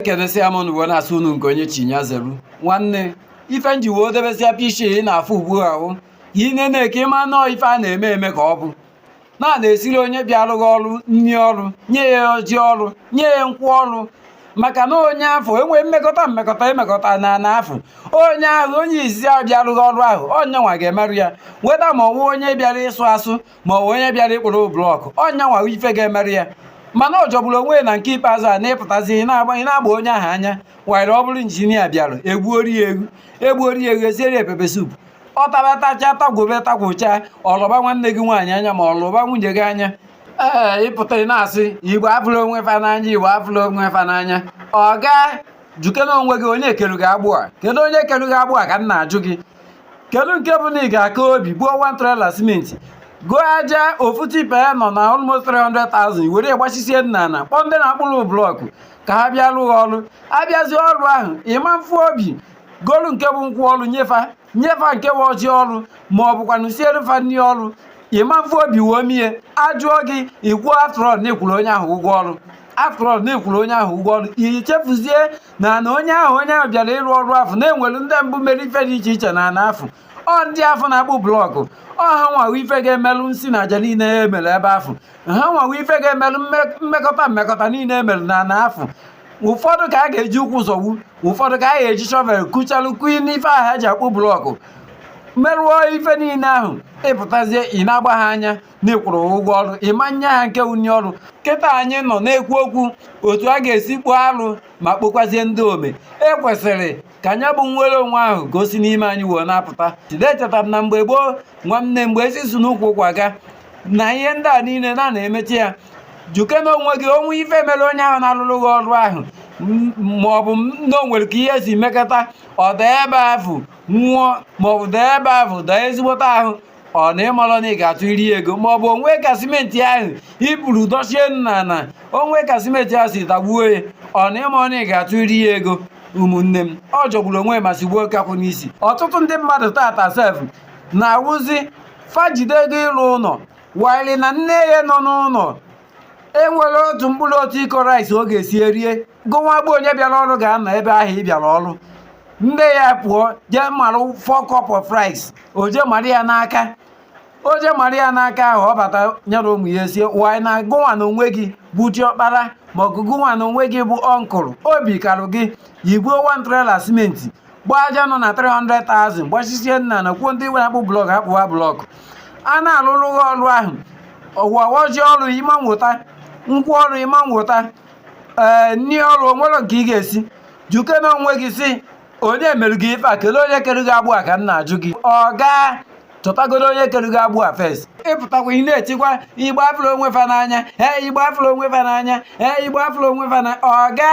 ekenesịa m unu wee na-asị unu nke onye chi nya zeru nwanne ife m ji wee debesịa pishi ị na-afụ ugbu ahụ ka ị na-ene ka ị ma na ọ ife a na-eme eme ka ọ bụ na a na-esiri onye bịara gị ọrụ nri ọrụ nye ya ọjị ọrụ nye ya nkwụ ọrụ maka na onye afụ enwee mmekọta mmekọta emekọta n'ana afụ onye ahụ onye izizi ahụ bịara gị ọrụ ahụ ọ nya nwa ga-emerụ ya whether ma ọ wụ onye bịara ịsụ asụ ma ọ bụ onye bịara ịkpụrụ blọkụ ọ nya nwa ife ga-emerụ ya mana ọ jọgburu onwe na nke ikpeazụ a na ị pụtazie ị na-agba onye ahụ anya were ọ bụrụ injinia bịara e gbuoro ya ewu e gbuoro ya ewu e siere pepper soup ọ taba tacha tagwobe tagwocha ọ lọba nwanne gị nwaanyị anya ma ọ lọba nwunye gị anya ee ị pụta ị na-asị Igbo afụrọ onwe fa n'anya Igbo afụrọ onwe fa n'anya ọga jụkene onwe gị onye kere gị agbụ a kedu onye kere gị agbụ a ka m na-ajụ gị kedu nke bụ na ị ga-aka obi buo one trailer simenti goo aja ofu tipa ya nọ na almost 300,000 were gbachisie n'ana kpọọ ndị na-akpụrụ blọkụ ka ha bịa rụọ gị ọrụ a bịazie ọrụ ahụ ị ma nfụ obi golu nke bụ nkwụ ọrụ nye fa nye fa nke bụ ọjị ọrụ ma ọ bụkwanụ siere fa nri ọrụ ị ma nfụ obi wee mie a jụọ gị i kwuo after all na ị kwụrụ onye ahụ ụgwọ ọrụ after all na ị kwụrụ onye ahụ ụgwọ ọrụ i chefuzie na na onye ahụ onye ahụ bịara ịrụ ọrụ afụ na e nwere ndị mbụ mere ife dị iche iche na ana afụ ọ ndị afụ na-akpụ blọkụ ọ ha nwa wụ ife ga-emelụ nsi na aja niile e mere ebe afụ ọ ha nwa wụ ife ga-emelụ mmekọta mmekọta niile e mere na ana afụ ụfọdụ ka a ga-eji ụkwụ zọgbu ụfọdụ ka a ga-eji shovel kuchalụ kuyi n'ife ahụ ha ji akpụ blọkụ merụọ ife niile ahụ ị pụtazie ị na-agba ha anya na ị kwụrụ ụgwọ ọrụ ị ma nye ha nke wụ nri ọrụ kịta anyị nọ na-ekwu okwu otu a ga-esi kpụọ arụ ma kpokwazie ndị ome e kwesịrị ka nya bụ nnwere onwe ahụ ka o si n'ime anyị wee na-apụta jide echetara m na mgbe gboo nwanne mgbe ezi si n'ukwu ụkwa aga na ihe ndị a niile na a na-emecha ya jụkene onwe gị o nwee ife mere onye ahụ na-alụrụ gị ọrụ ahụ ma ọ bụ na o nwere ka ihe si mekọta ọ daa ebe ahụ nwụọ ma ọ bụ daa ebe ahụ daa ezigbote ahụ ọ na ị marọ na ị ga-atụyiri ego ma ọ bụ o nwee ka simenti ahụ i buru dochie n'ana o nwee ka simenti ahụ si dagbuo ya ọ na ị marọ na ị ga-atụyiri ya ego ụmụnne m ọ jọgburu onwe ma sigbuo nkakwụ n'isi ọtụtụ ndị mmadụ tata sef na ọ wụzi fa jide ego ịrụ ụlọ while na nne ya nọ n'ụlọ enwerọ otu mkpụrụ otu iko rice ọ ga-esi erie gụnwa bụ onye bịara ọrụ ga-anọ ebe ahụ ị bịara ọrụ nne ya pụọ jee mara four cup of rice o jee mara ya n'aka o jee mara ya n'aka ahụ ọ bata nyere ụmụ ya e sie while na gụnwa na onwe gị bụ diọkpara ma ọ gụnwa na onwe gị bụ uncle obi karụ gị i buo one trailer simenti gbaa aja nọ na 300,000 gbachisie n'ana kpọọ ndị na-akpụ blọk akpụwa blọk a na-alụrụ gị ọrụ ahụ ọ wụ ọjị ọrụ ị ma nweta nkwụ ọrụ ị ma nweta ee nni ọrụ o nwerọ nke ị ga-esi jụkene onwe gị sị onye mere gị ife a kelee onye kere gị agbụ a ka m na-ajụ gị oga chọtagodo onye kere gị agbụ a first ịpụtakwa ị na-etikwa Igbo afụrọ onwe fa n'anya ee Igbo afụrọ onwe fa n'anya ee Igbo afụrọ onwe fa n'anya oga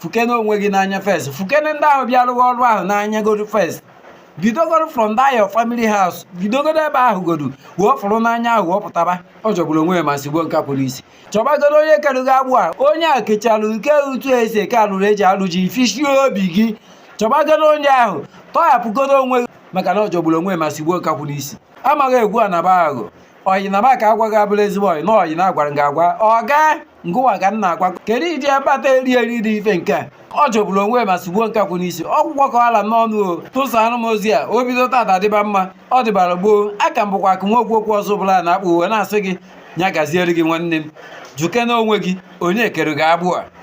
fụkene onwe gị n'anya first fụkene ndị ahụ bịa rụwa ọrụ ahụ n'anya godu first bidogodo from that your family house bidogodo ebe ahụ godu wee fụrụ n'anya ahụ wee pụtaba ọ jọgburu onwe ya ma sigbuo nkakwụ n'isi chọbagodo onye kere gị agbụ a onye a kechalụ nke etu esi eke alụrụ eji alụ ji fishie obi gị chọbagodo onye ahụ tọghapụgodo onwe gị maka na ọ jọgburu onwe ma sigbuo nkakwụ n'isi amaghị egwu a naba agụ ọyị na maka agwa gị abụrọ ezigbo ọyị na ọyị na-agwara gị agwa oga ngịwa ka m na-agwa kedu ụdị akpata eri eri dị ife nke a ọ jọgburu onwe ma sigbuo nkakwụ n'isi ọ gwụgo ka ọ ra m n'ọnụ o tụsa anụ m ozi a o bido taata dịba mma ọ dịbara gboo aka m bụkwa akụ nwa okwu okwu ọzọ bụla na-akpụ uwe na-asị gị nya gaziere gị nwanne m jụkene onwe gị onye kere gị agbụ a